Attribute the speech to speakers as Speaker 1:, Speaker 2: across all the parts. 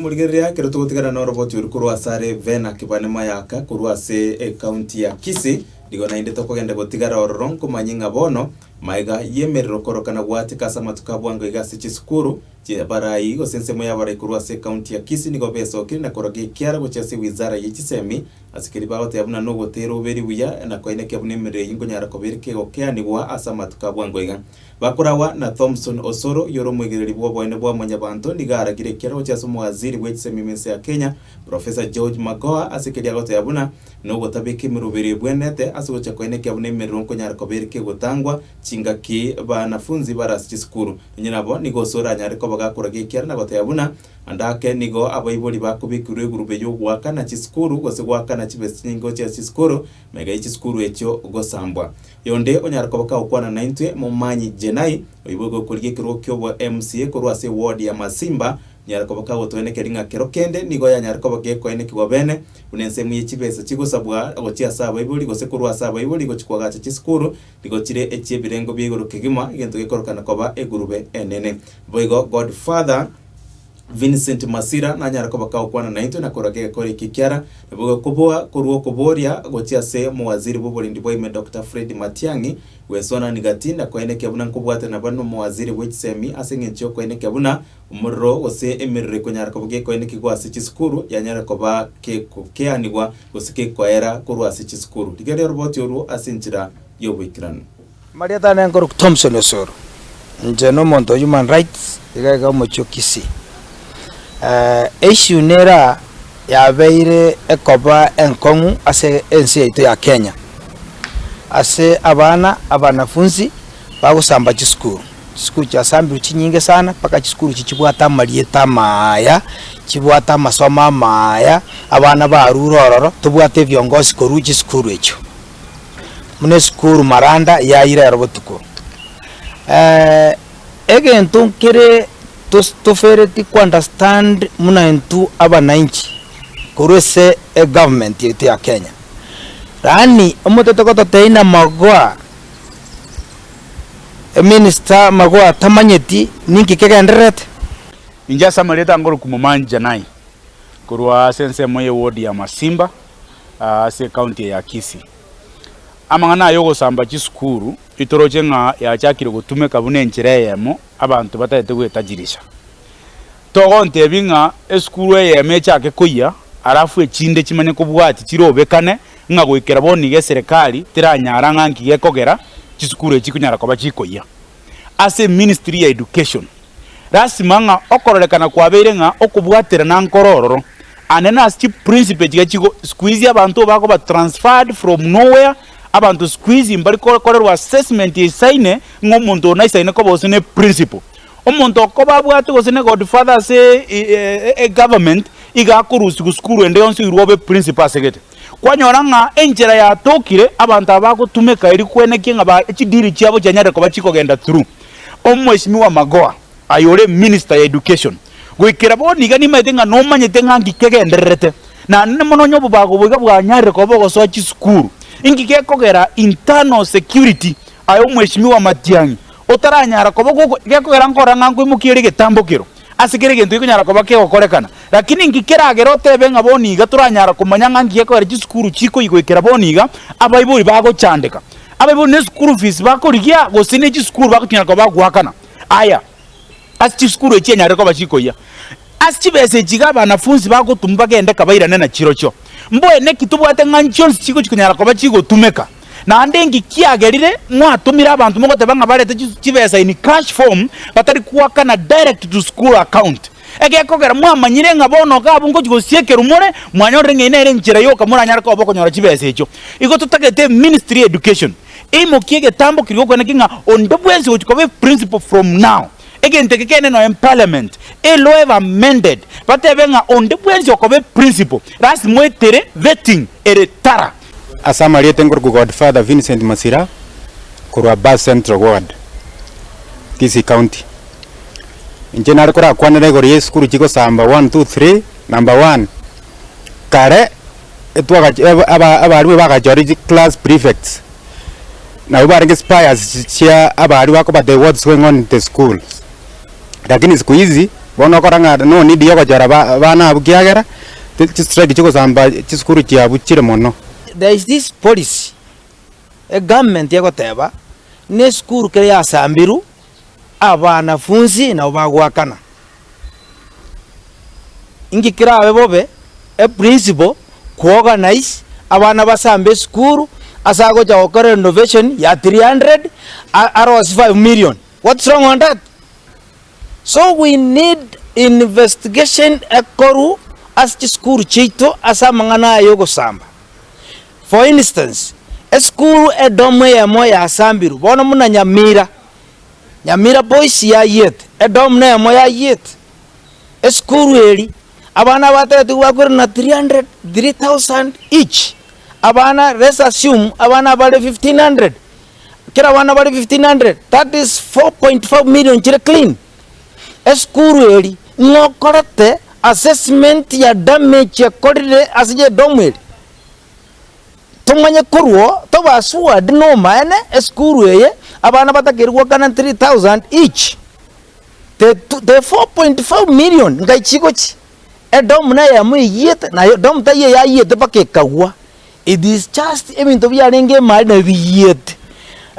Speaker 1: Rimorigereria ekero togotigana noroboti oru korwa ase are Vena Kibane Mayaka korwa ase ekaunti ya Kisii, nigo naende tokogenda gotigara ororo nkomanye ng'a bono maega y'emerero korokana gwachaka ase amatuko abwango iga ase chisukuru chia barai gose ensemo y'abarai korwa ase ekaunti ya Kisii nigo besokire na koroga ekiara gochia ase wizara ye chisemi ase keria bagoteba buna nogotera oberi buya na koinekia buna emerero eyio nkonyara kobera kegokea-nigwa ase amatuko abwango iga. Bakoragwa na Thomson Osoro, yore omoigereri bw'oboene bwa mwanyabanto, nigo aragire ekeroche ase omowaziri bw'echisemi minsa ya Kenya, Professor George Magoha, ase ekeria agotoya buna, Nogotabeka emeroberi ebwenerete ase gocha koyia nekia buna emerero nkonyara koba ere kegotangwa chingaki banafunzi bare ase chisukuru. Nonye nabo nigo Osoro anyare koba gakoraga ekiara na gotoya buna, ande ake nigo abaibori bakobekirwe egurube y'ogoakana chisukuru gose goakana chibesa chinyingo chia chisukuru, Mega echisukuru echio gosambwa. Yonde onyare koba kagokwana naintwe, Momanyi Jenai, oibwe gokorigia ekerogo ki'obo MCA korwa ase ewodi ya Masimba, onyare koba kagotoenekeria ng'a kero kende nigo yanyare koba gekoenekigwa bene, buna ensemo ye chibesa chigosabwa gochia ase abaibori gose korwa ase abaibori gochia koagacha chisukuru nigo chire echiebirengo bia igoro kegima, egento gekorokana koba egurube enene. Boigo Godfather. Vincent Masira nanyare koba kagokwana naintwe na korwa gegekora eki ekiara nigo gekoboa korwa okoboria gochia ase omowaziri bw'oborendi bwaime Dokita Fred Matiang'i gwesonani gati na koenekia buna nkobwate naba nomowaziri bw'echisemi ase eng'encho y'okoenekia buna omorero gose emerero ekonyara koba gekoenekigwa ase chisukuru yanyare koba gekokeanigwa gose gekoera korwa ase chisukuru. Rigereria oroboti orwo ase enchera y'oboikeranu. Amarieta
Speaker 2: ane nkorokwa Thomson Osoro. Inche nomonto o human rights iga iga omochie o Kisii. Issue nera yabeire ekoba enkong'u ase ense yaito ya Kenya ase abana abanafunzi bagosamba chisukuru. Chisukuru chiasambirwe chinyinge sana mpaka chisukuru echi chibwate amarieta amaya, chibwate amasomo amaya, abana barure ororo tobwate ebiongozi korwa chisukuru echio. buna esukuru maranda yayi rero botuko. egento nkere tos tofereti ko understand buna intwe abananchi korwa ase egovernment yaito ya Kenya, yaani omotete gototebia buna magoa, eminister magoa atamanyeti ninki kegendererete. Inche ase
Speaker 3: amaretankorwa Kumumani Janai, korwa ase ensemo ye ward ya Masimba. ase ekaunti eye ya Kisii. Amang'ana aya ogosamba chisukuru itoroche ng'a yachakire gotumeka buna enchera eyemo abanto batagete goetajirisha. Togontebia ng'a esukuru eyemo echake koyia alafu echinde chimanye kobwati chirobekane ng'a goikera bono iga eserekari teranyara ng'a nki gekogera chisukuru echi chikonyara koba chikoyia. Ase eministry ya education. Lasima ng'a okororekana kwabeire ng'a okobwaterana nkoro ororo. Ande nase chiprincipe chiga chigo sikuizi abanto bakoba transferred from nowhere, abanto sikuizi mbari kokorerwa assessment eisaine ng'a omonto oyo naisaine koba gose ne principle. Omonto okoba abwate gose ne godfather ase e government iga akorusigwa sukuru ende yonsi oirwe obe principle asegete. Kwanyora ng'a enchera yatokire abanto aba bagotumeka eria kwenekia ng'a ba chideal chiabo chianyare koba chikogenda through. Omweshimiwa Magoha, aye ore minister ya education, goikera bono iga nimaete ng'a nomanyete ng'a nki kegendererete, naende na mono onye obobago boiga bwanyarire koba ogosoa chisukuru, inki gekogera internal security aye Omweshimiwa Matiang'i otaranyara koba gokogera nkora ng'a nkoimokia ere egetambo kero. Ase kera egento gekonyara koba kegokorekana, lakini inki keragere otebe ng'a boni iga toranyara komanya ng'a nki gekogera chisukuru chikoigoikera boni iga abaibori bagochandeka? Abaibori neschool fees bakorigia gose nechisukuru bagochinyara koba bagoakana? Aya, ase chisukuru echi enyarire koba chikoyia ase chibesa echi iga abanafunsi bagotumwa bagende kabairane nachirochio. Mboe naki tobwate ng'a nchionsi chigo chikonyara koba chigotumeka? Naende inki kiagerire mwatumire abanto mogoteba ng'a barete chibesa in cash form batari koakana direct to school account? Egekogera mwamanyire ng'a bono iga abwo ngochia gosiekerwa more, mwanyorire ng'a eye nere enchera yoka moranyare koba okonyora chibesa echio. Igo totagete eministry ya education eimokie egetambo keria gokwana ki ng'a onde bwensi ogochia koba eprinciple from now, egento eke kegende nonya parliament eloe ebe amended batebe ng'a onde bwensi okoba eprinciple lasima oetere vetting ere tara. Ase amarieta
Speaker 4: nkorokwa Godfather Vincent Masira korwa Bass Central Ward, Kisii County. Inche nare korakwanere igoro y'esukuru chigosamba one, two, three, number one, kare etwagachi- aba- aba- abarimwe bagachore chi class prefects, nabo barenge spiers chia abaria bakobateba what is going on in the school. Lakini siku hizi bono okora ng'a nonidi yogochora ba- abana abwo kiagera chi- chistrike chigosamba chisukuru chiabu chire mono. There is this
Speaker 2: policy egovernment egoteba buna esukuru kere yasambiru abanafunzi nabo bagoakana. Inki kerabe bobe eprinciple kuorganise abana basambe esukuru ase agocha gokora renovation ya three hundred a- arosie five million What's wrong on that? So we need investigation ekorwa ase chisukuru chiaito ase amang'ana aya y'ogosamba. For instance, esukuru edomu eyemo yasambirwe bono buna Nyamira, Nyamira Boys yayiete, edomu neyemo yayiete. Esukuru eri, abana abategetigwa bakwire na 300, 3,000 each. Abana, let's assume abana bare 1,500, Kera abana bare 1,500, that is 4.5 million chire clean. Esukuru eri ng'a okorete assessment ya damage ekorire ase edomu eri, tomanye korwa oo tobe assured nomaene esukuru eye abana batakeire goakana 3,000 each. The 4.5 million ngaki chigochi? Edomu neyemo eyiete, na edomu taiyo eyayete mpaka ekagwa. It is just ebinto biarenge emali na biyiete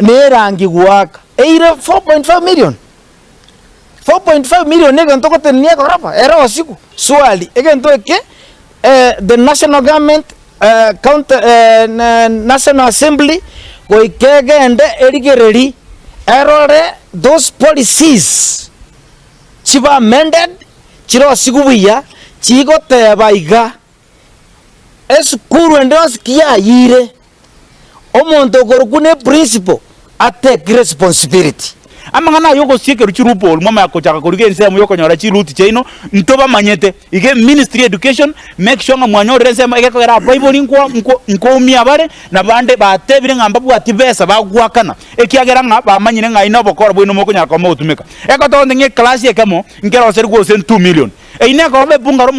Speaker 2: na erangi goaka eire 4.5 million. 4.5 million ne egento ogotenenia egorofa ere osigu. Swali, egento eke eh the national government eh county national assembly goika egende erigereri erore those policies chibe amended chire osigu buya chigoteba iga. Esukuru ende yonsi ki yayiire, omonto okorokwa ne principal atake responsibility. Amang'ana aya
Speaker 3: ogosia ekerochi loophole mwamanya gochaka korigia ensemo yokonyora chiruuti chiaino ntobamanyete. Iga eministry ya education make sure ng'a mwanyorire ensemo egekogera abaibori nkwa nkwa nkoumia abare nabande batebire ng'a mbabwatie besa bagoakana ekiagera ng'a bamanyire ng'ai nobokora bwaino mokonyara koba mogotumeka. Ekotonde ng'a eclass ekemo nkeroserigwe gose two million. Eyio nekoba epunga romonto.